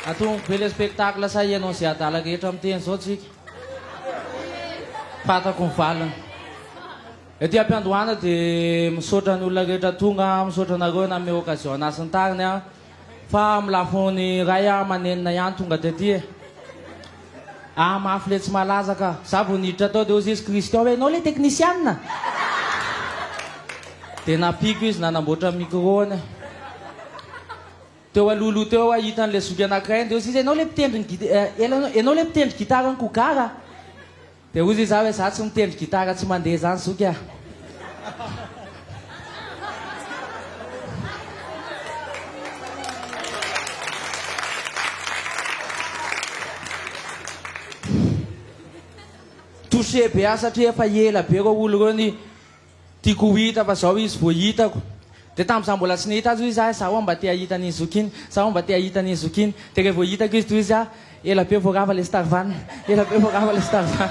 Atomiko be le spectacle sa ianao sy adala rehetra miteny zao tsika? Fantako ny valiny. Ety ampiandohana de misaotra ny olona rehetra tonga, misaotra anareo nanome occasion anah sy ny tariny a. Fa amin'ny lafiny ray amanenina ihany tonga tety e. Ah mafy le tsy malaza ka. Za vao niditra tao dia hozy izy Christian hoe enao le teknisianina? Dia nampiako izy nanamboatra ny micro-ny aho. Teo alohaloha teo aho hita an'ilay zoky anankiray dia hozy izy enao le mpitendry ny gita- eh, ela- enao le mpitendry gitara an'i Kogara? Dia hoy izaho hoe izaho tsy mitendry gitara tsy mandeha izany zoky a! Touché be aho satria efa ela be ireo olo ireo ni. Tiako ho hita fa zao izy vo hitako De tam za mbola tsy nahita azy hoy za Za oa mba te ahita an'iny zoky iny Za oa mba te ahita an'iny zoky iny De re vo hitako izy tohizo za Ela be vo rava le star van Ela be vo rava le star van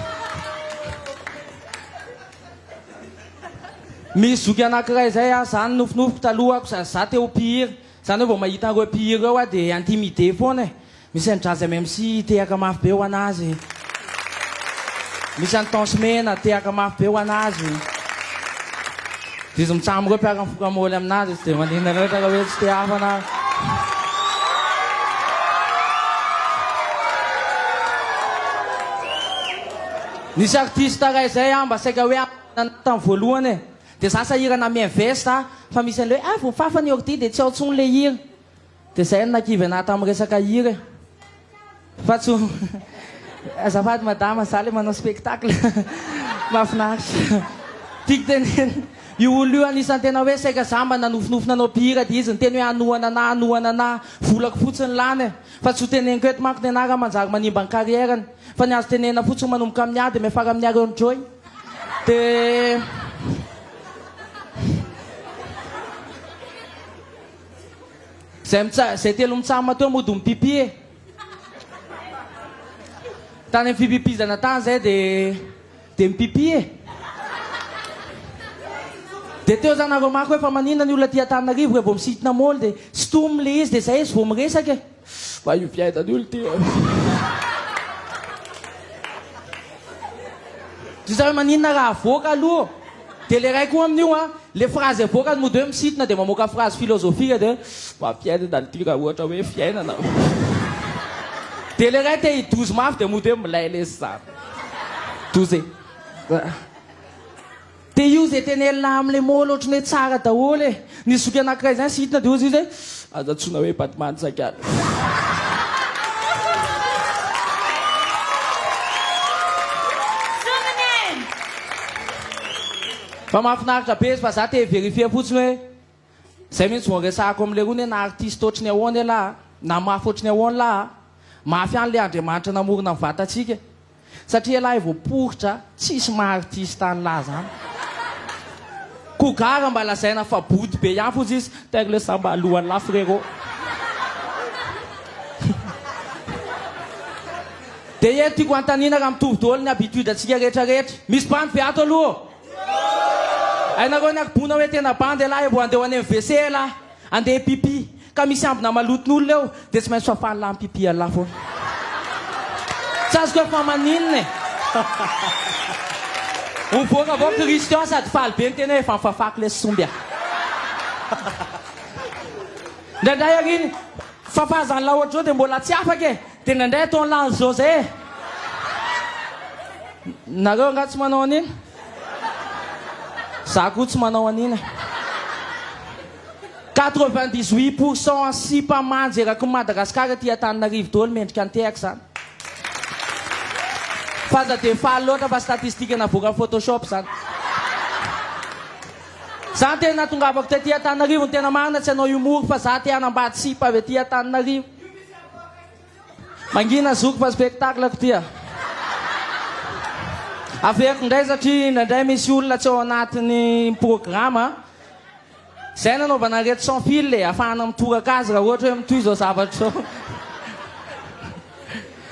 Misy zoky anakiray zay a Za nofinofiko talohako sady za te ho mpihira Zany oe vo mahita an'reo mpihira reo a De intimider foana e Misy an'i Jazz MMC tehaka mafy be ho an'azy. Misy an'i Tence Mena tehaka mafy be ho an'azy. Diso mitsam ireo mpiara mifoka môly amin'azy tsy dia maninona loatra raha hoe tsy te hafana aho. Nisy artiste iray zay aho mba saika hoe nanana tamin'ny voalohany e. Dia za sahirana mi-invest fa misy an'ilay hoe ah voafafa ny ordi dia tsy ao intsony ilay hira. Dia zay no nakivy anah tamin'ny resaka hira e! Fa tsy ho Azafady madama, za le manao spectacle mahafinaritra. Tiako tenenina, io olona io anisan'ny tena hoe saika za mba nanofinofy nanao mpihira dia izy niteny hoe hanohana anah, hanohana anah. Volako fotsiny lany e! Fa tsy ho teneniko eto manko ny anah raha manjary manimba ny carrière-ny. Fa ny azo tenenina fotsiny manomboka amin'ny A dia miafara amin'ny Ary Enjoy dia. Zay mitsa- zay telo mitsahama teo mody mipipi e. Tany amin'ny fipipizana tany zay de de mipipi e. De teo za nareo mako hoe fa maninona ny olona aty Antananarivo revô misintona môly de stom le izy de zay izy vao miresaka e. Fa io fiaidan io lty e. Ry zareo maninona raha avoaka aloha de le ray koa amin'io a le phrase avoakany mody hoe misitona de mamoaka phrase philosophique de fa fiainana lty raha ohatra hoe fiainana de le ray te hidozy mafy de mody hoe milay lesy zany doze. Dia io izay tena elah amin'ilay môly ohatran'ny hoe tsara daholo e. Nisy zoky anankiray izany sy hitona dia hozy izy hoe, aza antsoina hoe Batman saika ary. Fa mahafinaritra be izy fa za te hi-verifier fotsiny hoe. Zay mintsy vao resahako am lerony hoe na artiste ohatry ny ahoana ialahy a, na mafy ohatry ny ahoana lahy a, mafy ihany le Andriamanitra namorona ny vatantsika e. Satria ialahy vao poritra a, tsisy maha artiste an lahy zany. Ko gara mba lazaina fa bodo be ihany foza izy, taire le samba alohan lahy frérot. Dia eto tiako anontaniana raha mitovy daholo ny habitude antsika rehetra rehetra. Misy bandy be ato aloha ô? Hainareo ny arboana hoe tena bandy elah e vao andeha ho any amin'ny WC elah andeha hipipi ka misy ambina maloton'olona eo dia tsy maintsy fafan'lah mipipi elah foana tsy azoko hoe fa maninona e Mivoaka avao Christian sady faly be ny tena hoe efa nifafako lesy somby a Indraindray ary iny fafazan'lah ohatr'izao dia mbola tsy afaka e Tena ndray atao ny lany zao zay e! Nareo angaha tsy manao an'iny? Za koa tsy manao an'iny e! Quatre vingt dix huit pour cent sipa manja erakin'i Madagasikara aty Antananarivo daholo mendrika an-tehaka zany. F'aza dia faly loatra fa statistique navoakan'i photoshop zany. Za ny teny nahatongavako taty Antananarivo ny tena marina tsy hanao humour fa za te hanambady sipa avy aty Antananarivo. Mangina zoky fa spectacle ko tia. Averiko indray satria indraindray misy olona tsy ao anatin'ny programme. Izay nanaovana an'ireto sans fil e, afahana mitoraka azy raha ohatra hoe mitohy izao zavatra izao.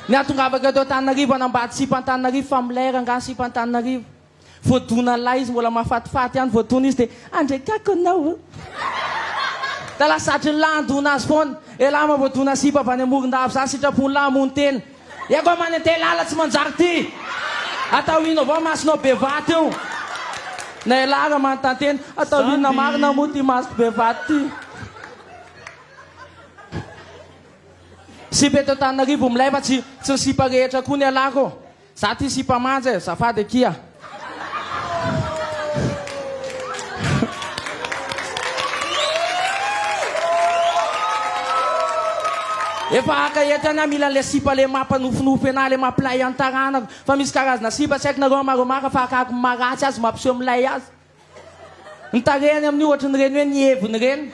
Ny hahatongavako eto Antananarivo hanambady sipa Antananarivo fa milay rangahy sipa Antananarivo. Voadonalahy izy mbola mahafatifaty ihany voadona izy dia andray kako anao a! Da lasatry ny lahy handona azy foana. Elah mahavoadona sipa avy any Morondava za sitrapony lahy hamono tena. Eko a many antehilahy tsy manjary ty. Atao ino avao masonao be vato io. Na elah ary manontany tena atao inona marina moa ty masoko be vato ty. Sipa eto Antananarivo milay fa tsy tsy ny sipa rehetra koa ny alako ô. Za ty sipa manja e, zafady akia. Efa haka eto ihany aho mila le sipa le mampanofinofy anahy le mampilay an taranako fa misy karazana sipa tsy haiko nareo amareo maka fa akako ny maha ratsy azy mampiseho milay azy. Ny tarehany amin'ny ohatrin'ireny hoe nihevona ireny.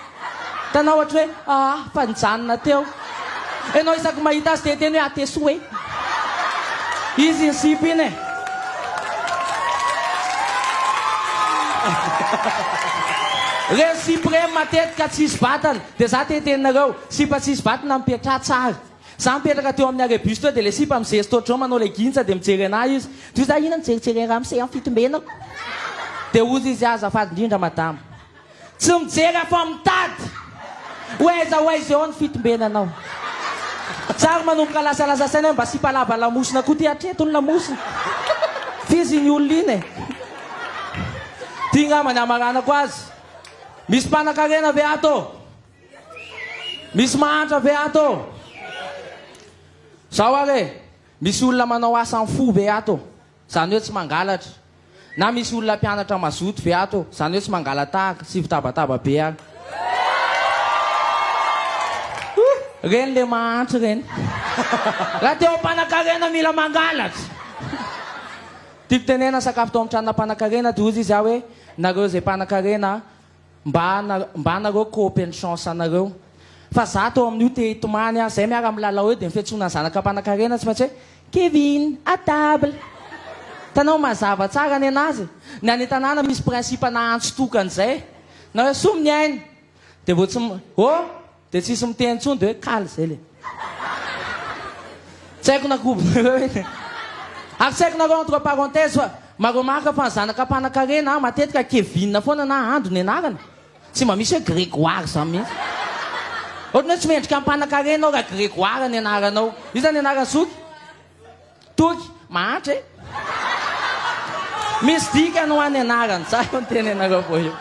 Hitanao ohatra hoe aa fa nijanona teo. Ianao isaky ny mahita azy dia hiteny hoe atesoa e. Izy iny sipa iny e. Ireny sipa ireny matetika tsisy vatana dia za te hiteny anareo sipa tsisy vatana mipetraha tsara. Za mipetraka teo amin'ny arrêt bus teo dia ilay sipa mizery stôdrô manao legintsa dia mijery anah izy dia hoy za ina mijerijery an'raha misy amin'ny fitombenako dia hoy izy azafady indrindra madama tsy mijery afa mitady ho aiza ho aiza eo ny fitombenanao za ary manomboka lasalasa saina hoe mba sipa lava lamosina koa ty hatreto ny lamosina f'izy iny olona iny e ty ngamba ny hamaranako azy misy mpanankarena ve ato ô Misy mahantra ve ato? Zao ary e, misy olona manao asa am fo ve ato? Zany hoe tsy mangalatra. Na misy olona mpianatra mazoto ve ato? Zany hoe tsy mangala-tahaka, tsy fitabataba be ary. Huh! Reny le mahantra reny. Raha te ho mpanakarena mila mangalatra. Tiako tenena sakafo tao am tranona mpanakarena de ozy izy aho hoe, nareo ze mpanakarena Mba mba anareo ko open chance anareo fa za tao amin'io te hitomany aho zay miara milalao eo de ny fiantsoana ny zanaka mpanakarena tsy maintsy hoe Kevin à table hitanao mazava tsara ny anazy ny any an-tanàna misy principe nahantsy tokana izay na hoe soa mniaina de vao tsy oh Dia tsisy miteny intsony dia hoe kal izay le. Tsy haiko na kobo Ary tsy haiko nareo entre parenthèse fa ma-remarque fa ny zanaka mpanankarena matetika Kevin foana na Andry ny anarany. Tsy mba misy hoe Grégoire izany mihitsy. Ohatran'ny hoe tsy mendrika ny mpanankarena ao raha Grégoire ny anaranao. Io izany ny anaran'ny zoky. Toky, mahantra e! Misy dikany ho an'ny anarany. Zah io niteny anareo vao io.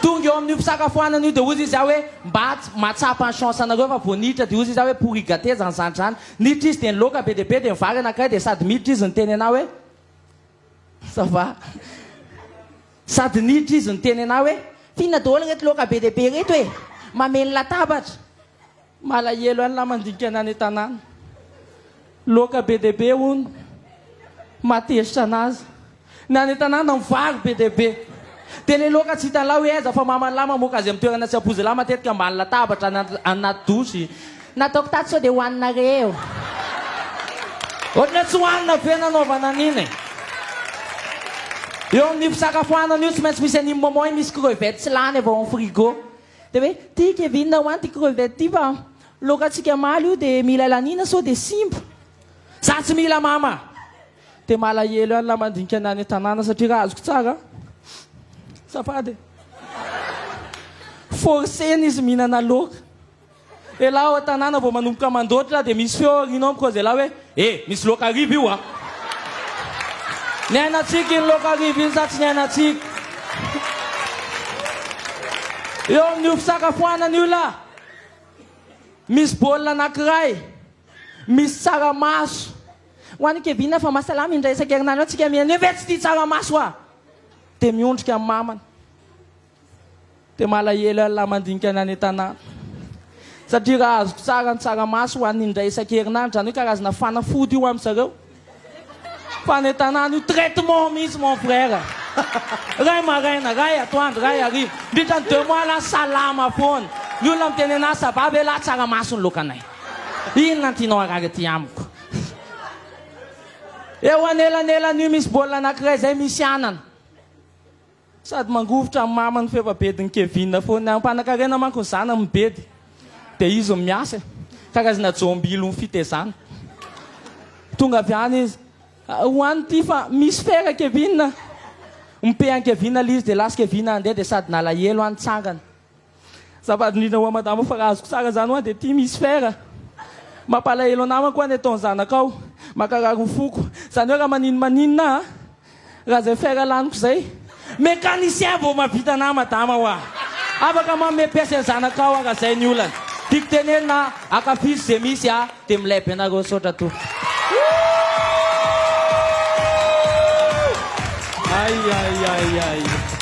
Tonga eo amin'io fisakafoanana io dia hozy izy aho hoe mba tsy mahatsapa ny chance anareo fa vao niditra dia hozy izy aho hoe pourri gate zany zandry zany. Niditra izy dia niloaka be dia be dia nivary anankiray dia sady miditra izy niteny anah hoe ça va. Sady niditra izy niteny anah hoe f'inona daholo ireto loaka be dia be ireto e! Mamely latabatra. Malahelo an'la mandinika ny any an-tanàna. Loaka be dia be hono mahatezitra an'azy. Ny any an-tanàna mivaro be dia be. Dia ilay loaka tsy hitan'la hoe aiza fa maman'la mamoaka azy amin'ny toerana tsy ampoizin'la matetika ambany latabatra any anaty douche. Nataoko tato sao dia hohaninareo. Ohatran'ny hoe tsy hohanina ve nanaovana an'iny e. Eo amin'ny fisakafoanana io tsy maintsy misy an'iny moment iny misy crevettes lany avy ao amin'ny frigo. Dia hoe ty Kevin ho any ty crevette ty fa lokantsika maly io dia mila laniana sao dia simba. Za tsy mila mama. Dia malahelo ihany la mandinika ny any an-tanàna satria raha azoko tsara a, safady e, forcena izy mihinana laoka. Elah ao an-tanàna vao manomboka mandoatra dia misy feo aoriana ao mikoza elah hoe e! misy loaka hariva io a! Niainantsika iny loaka hariva iny sa tsy niainantsika? Eo amin'io fisakafoanana io lah misy bol anankiray misy tsaramaso. Ho an'i Kevin fa mahasalama indray isan-kerinandro any tsika mihinana io ve tsy tia tsaramaso a! dia miondrika amin'ny mamany. Dia malahelo ialahy mandinika ny any an-tanàna. Satria raha azoko tsara ny tsaramaso ho an'ny indray isan-kerinandro, izany hoe karazana fanafody io amin-dry zareo. Fa any an-tanàna io traitement mihitsy mon frère. Iray maraina, iray atoandro, iray hariva. Mandritra ny deux mois ialahy salama foana. Ny olona miteny an'ahy ça va ve ialahy tsaramaso ny lokanay. Inona no tianao harary aty amiko. Eo anelanelan'io misy baolina anankiray izay misy anana. Sady mangovitra ny mamany f'efa bedin'i Kevin foana ihany. Mpanakarena manko ny zanany mibedy dia izy no miasa e. Karazana jombilon'ny fitezana. Tonga avy any izy. Ho any ity fa misy fera Kevin a! Ompehan'i Kevin ilay izy dia lasa Kevin handeha dia sady nalahelo aho nitsangana. Zava indrindra hoa madama fa raha azoko tsara zany hoa dia tim hisy fera. Mampalahelo anamako hoa ny ataony zanakao. Makarary ho foko. Zany hoe raha maninn maninona a. Raha zay fera laniko zay. Mécanicien vao mahavita anah madama hoa. Afaka manome pièce any zanakao hoa raha zay ny olana. Tiako tenenina a. Akafizo ze misy a. Dia milay be nareo misaotra tompoko. Ay ay ay ay.